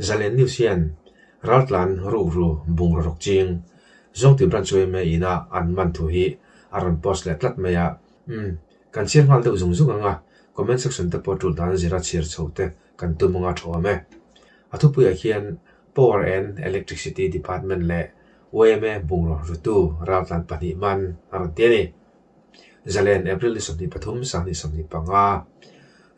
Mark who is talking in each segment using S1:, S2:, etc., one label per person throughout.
S1: Zalen news hian Raltlan ruhru bungraw rawk ching zawng tin ran chuai mai ina an man thu hi a rawn post leh tlat mai a, umm kan chhiar nghal deuh zung zung ang a, comment section te pawh tulh dan zira chhiar chho te kan tum anga thawm e. A thupuiah khian Power and Electricity Department leh OMA bungraw rutu Raltlan pahnih man a rawn ti a ni. Zalen, April ni sawmhnih pathum, Sang ni sawmhnih panga,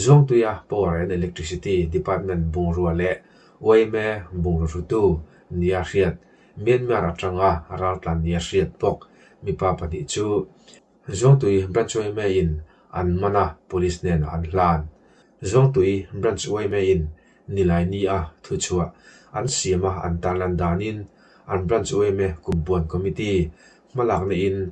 S1: Zuangtuia Power and Electricity Department bungrua leh UAMA bungrutrutu nia hriat Myanmar atanga raltlan nia hriat bawk mipa pahnih chu Zuangtui Branch UAMA in an man a, Police hnenah an hlan. Zuangtui Branch UAMA in nilai nia thuchhuah an siam a, an tarlan danin an Branch UAMA Kumpuan Committee hmalakna in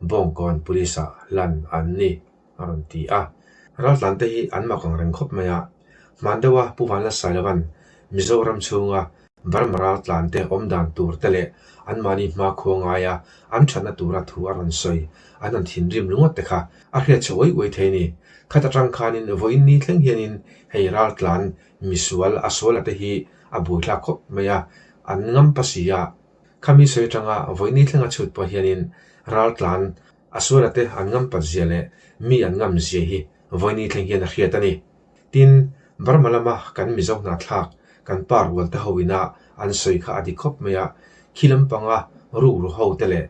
S1: Bawngkawn Police-a hlan an ni, a rawn ti a. Raltlante hi an mak ang reng khawp mai a. Hman deuha Pu Vanlasai lovan Mizoram chhunga Burma raltlante awmdan tur te leh anmahni hma khawngaia an thatna tura thu a rawn sawi an han thinrim lunga te kha a hriat chhe uai uai thei a ni. Khat atang khanin vawiin ni thleng hianin hei raltlan misual a sual ate hi a buaithlak khawp mai a, an ngam pasiah Khami sawi atanga vawiini thlenga chhut pawh hianin ral tlan, a sual a te an ngam pat zia leh mi an ngam zia hi vawiini thleng hian a hriat a ni. Tin, Burma lama kan Mizo hnahthlak, kan pa rual te ho ina an sawi kha a dik khawp mai a, khi lampanga rukru ho te leh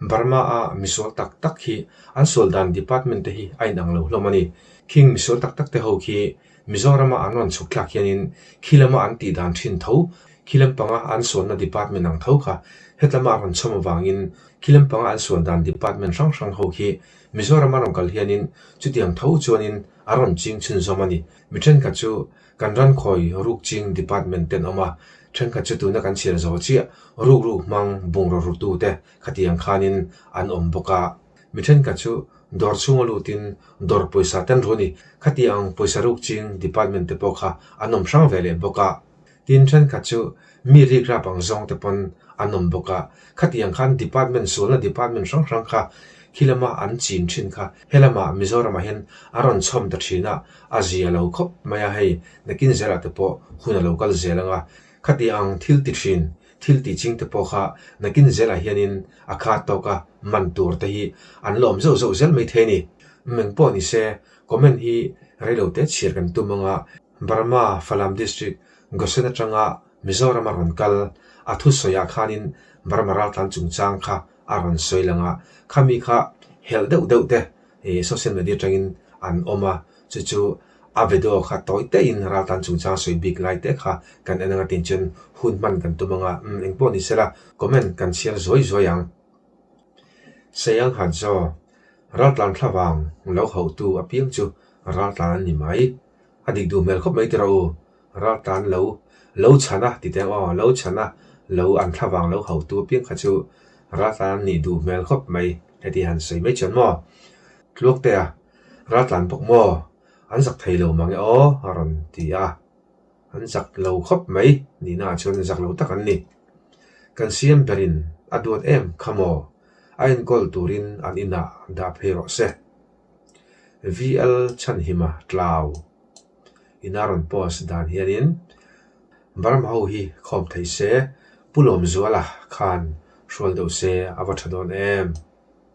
S1: Burma-a misual tak tak hi an sual dan department te hi a inang lo hlawm a ni. Khing misual tak tak te ho khi Mizorama an rawn chhuk thlak hian in khi lama an tih dan thin tho, khi lampanga an sualna department ang tho kha hetlama a rawn chhawm avang in khi lampanga an sual dan department hrang hrang ho khi Mizorama rawn kal hian in chutiang tho chuan in a rawn ching chhun zawm a ni. Mi thenkhat chu kan ran khawi ruk ching department ten awm a, thenkhat chu tuna kan chhiar zo chiah ruk ruk hmang bungraw rutu te khatiang khan in an awm bawk a, Mi thenkhat chu dawr chhunga lutin dawr pawisa ten ru ni, khati ang pawisa rukching department te pawh kha an awm hrang ve leh bawk a. Tin, thenkhat chu mi rikrap ang zawng te pawn an awm bawk a, khati ang khan department sulna department hrang hrang kha khi lama an chin thin kha he lama Mizoram ah hian a rawn chhawm ta thin a, a zia lo khawp mai a, hei nakin zel ah te pawh hun a lo kal zel ang a, khati ang thil ti thin Thil ti chingte pawh kha nakin zel ah hianin a khat tawk a, man tur te hi an lawm zeuh zeuh zel mai the ni. Umm engpawh ni se, comment hi reilo te chhiar kan tum anga Burma Falam District Gosen atanga Mizoram a rawn kal a thu sawi ah khanin Burma raltlan chungchang kha a rawn sawi lang a, khami kha helh deuh deuh te social media atangin an awm a, chu chu A ve deuh kha tawi teh in ral tan chungchang sawi bik lai teh kha kan en ang atin chuan hun hman kan tum ang a, umm engpawh ni sela comment kan chhiar zuai zuai ang. Sayanghat Zo, Raltlan thla vang lo hauh tu apiang chu raltlan an ni mai, a dik duh hmel khawp mai ti rawh u, raltlan lo lo chhan a titeng aw lo chhan a lo an thla vang lo hauh tu apiang kha chu raltlan an nih duh hmel khawp mai heti han sawi mai chuan maw tluak te a. Ral tlan bawk maw? An zak thei lo mang e aw a rawn ti a. An zak lo khawp mai nihnaah chuan zak lo tak an ni. Kan siam berin a duat em kha maw? A enkawl turin an inah dah phei rawh se. VL Chhanhima tlau ina rawn post dan hianin Burma ho hi khawm thei se, pu Lawmzuala khan hrual deuh se a va tha dawn em?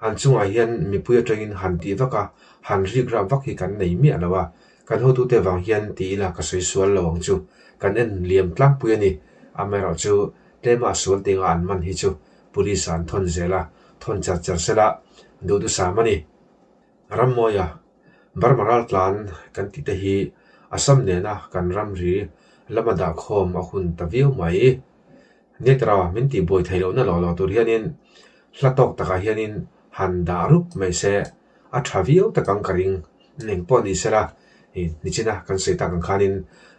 S1: An chungah hian mipui atangin han tih vak a, han rik rah vak hi kan nei miah lo a, kan hotute vang hian ti ila ka sawi sual lo ang chu, kan en liam tlangpui a ni. Amerawh chu tlema sual tinga an man hi chu Police-a an thawn zel a, thawn cher cher sel a, duhdusam a ni. Ram mawia Burma raltlan kan tih te hi Assam nena kan ramri lama dahkhawm a hun ta viau mai. Nitra min tih buai thei lohna law law tur hianin hla tawk takah hianin han dah rup mai se, a tha viau tak ang ka ring. Eng pawh ni sela, i nichina kan sawi tak ang khanin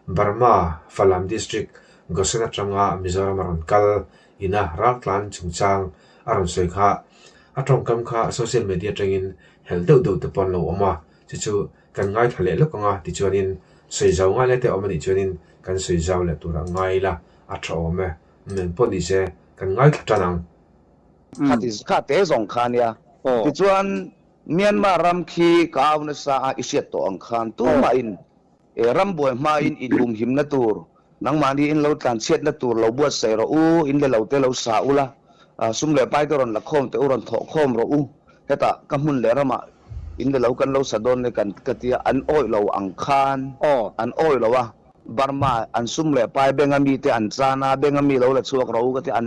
S1: Burma Falam District Gosen atanga Mizoram a rawn kal ina ral tlan chungchang a rawn sawi kha, a tawngkam kha social media atangin hel deuh deuh te pawh an lo awm a, chu chu Kan ngai thla leh lawk anga tichuanin sawi zau ngai lai te awm anih chuanin kan sawi zau leh turah ngai la a tha awm e. Eng pawh ni se kan ngai thla tan ang. Khati
S2: kha te zawng kha nia. Tichuan Myanmar ram khi ka au nasa a i hriat tawh ang khan tumahin ram buai hmain i lumhimna tur Nangmahni in lo tlanchhiatna tur lo buatsaih rawh u, in le lo te lo sa u la, sum leh pai te rawn la khawm teh u, rawn thawh khawm rawh u, heta ka hmun leh ramah in le lo kan lo sa dawn le kan ka ti a, an awih lo ang khan aw an awih lo a, Burma an sum leh pai benga mi te an chan a, benga mi lo la chhuak rawh u ka ti a,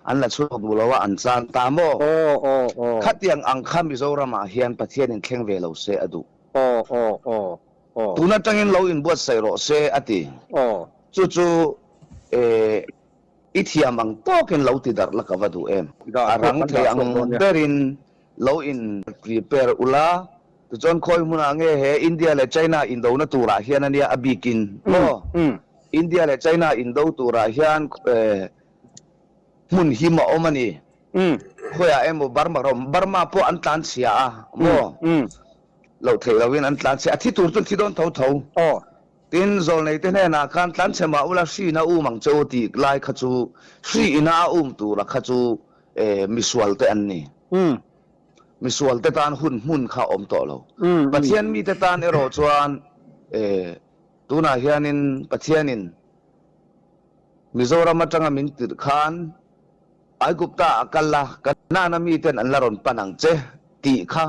S2: an la chhuak duh lo a, an chan ta maw? Aw aw aw. Khatiang ang kha Mizoramah hian Pathianin thleng ve lo se a duh. Aw aw aw. Tun atangin lo inbuatsaih rawh se a ti. Chu chu eh, i thiam ang tawkin lo ti darh la ka va duh em? A rang thei ang berin lo in prepare u la. Tichuan khawi hmunah nge he India leh China in dona turah hian a nia a bikin maw? India leh China in do turah hian eh, hmun him a awm a ni. Khawiah emaw Burma rawh, Burma pawh an tlanchhia a maw? Loh theih loin an tlan chhe. A thi tur chuan thi dawn tho tho. Aw. Tin, Zawlneite hnenah khan tlan chhe mah ula Hriin a um ang che u tih lai kha chu Hri ina a um tura kha chu misualte an ni. Misualte tan hun hmun kha a awm tawh lo. Pathian mite tan erawh chuan tunah hianin Pathianin Mizoram atanga min tirh khan Aigupta a kal a, Kanaana miten an la rawn pan ang che tih kha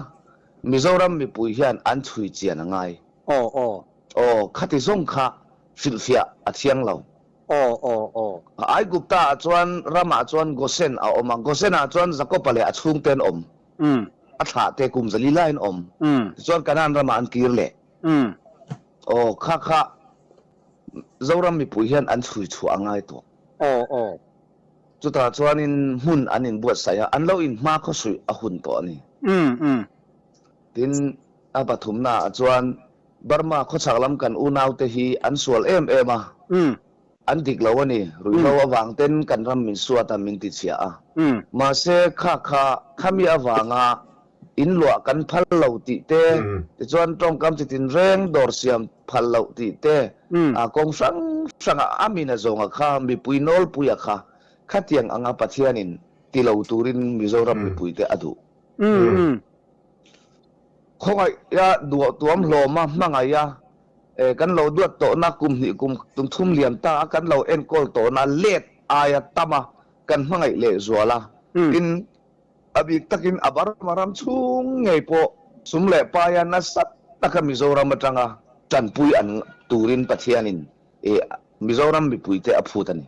S2: Mizoram mipui hian an chhui chian a ngai. Aw aw. Aw, khati zawng kha hrilhfiah a thiang lo. Aw aw aw. Ai Gupta ah chuan ram ah chuan Gosen a awm a, Gosen ah chuan Jakopa leh a chhung te an awm. Umm. A thlah te kum zali laiin awm. Umm. Tichuan Kanaan ram ah an kir leh. Umm. Aw, kha kha Mizoram mipui hian an chhui chhuah a ngai tawh. Aw aw. Chutah chuanin hmun an inbuatsaih a, an lo inhma khawsuih a hun tawh a ni. Tin, a pathumnaah chuan Burma khawchhak lam kan unaute hi an sual em em a, an dik lo a ni, ruihhlo avangten kan ram min suat a min tichhiah a. Mahse, kha kha, khami avanga In luah kan phal lo tih te, tichuan tawngkam chitin reng dawr siam phal lo tih te, aa kawng hrang hranga a mina zawnga kha mipui nawlpuia kha khatiang anga Pathianin ti lo turin Mizoram mipuite a duh. Khawngaia duah tuam hlawma hmangaia kan lo duat tawhna kum hnih kum thum lian ta a kan lo enkawl tawhna let aia tama kan hmangaih lehzual a, tin, A bik takin a Burma ram chhung ngei pawh sum leh paia nasat taka Mizoram atanga tanpui an turin Pathianin i Mizoram mipuite a phut a ni.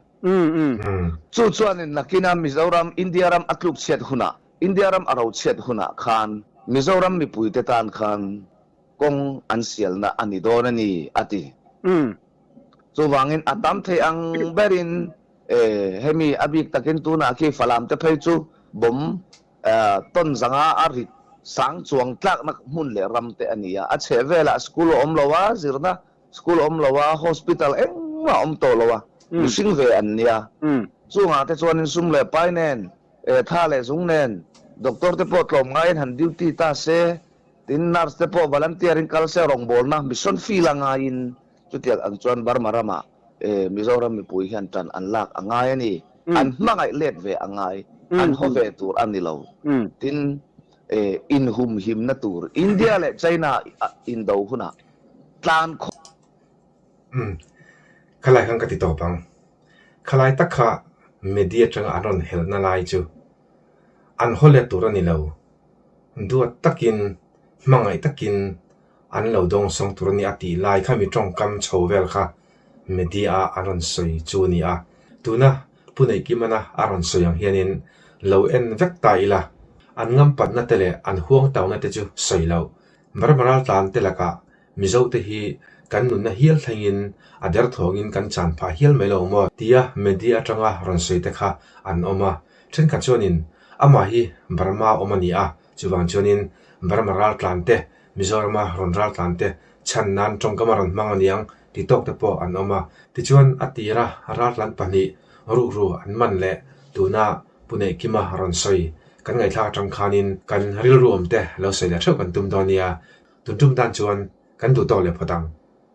S2: Chu chuanin nakina Mizoram India ram a tluk chhiat hunah, India ram a ro chhiat hunah khan Mizoram mipuite tan khan kawng an sialna a ni dawn a ni, a ti. Chuvangin a tam thei ang berin, E, hemi a bik takin tunah khi Falamte phei chu bawm e tawn zanga a rit sang chuang tlakna hmun leh ram te a ni a. A chheh velah school a awm lo a, zirna school a awm lo a, hospital engmah a awm tawh lo a, mihring ve an nia. Chungah te chuanin sum leh pai nen, e tha leh zung nen doctor te pawh tlawm ngaiin han duty ta se, tin nurse te pawh volunteer-in kal se rawngbawlna mission field a ngaiin, Chutial ang chuan Burma rama Mizoram mipui hian tan an lak a ngai a ni. An hmangaih let ve a ngai, an haw ve tur a ni lo. Tin, inhumhimna tur India leh China indo hunah tlan khawp. Umm,
S1: kha lai khan ka ti tawp ang. Kha lai tak kha media tanga an rawn helhna lai chu an haw let tur a ni lo. Duat takin, hmangaih takin. an lo dawng sawng tur a ni a tih lai kha mi tawngkam chho vel kha media-a an rawn sawi chu a ni a. Tuna Pu Neih Kimana a rawn sawi ang hianin lo en vek ta ila an ngampatna te leh an huangtauhna te chu sawi lo. Ber Maral Tlan te lakah Mizo te hi kan nunna hial thlengin a derthawngin kan chan phah hial mai lo maw tia media atanga rawn sawi te kha an awm a. Thenkhat chuanin amah hi Burma awm a ni a, Chuvang chuanin Burma raltlante, Mizorama rawn raltlante chhan nan tawngkama rawn hmang a niang ti tawkte pawh an awm a. Tichuan a tira raltlan pahnih ruhru an man leh tuna Pu Nei Kima rawn sawi kan ngaihthlak atang khanin kan rilruamte lo sawi leh theuh kan tum dawn nia, tun tum tan chuan kan duh tawk leh phawt ang.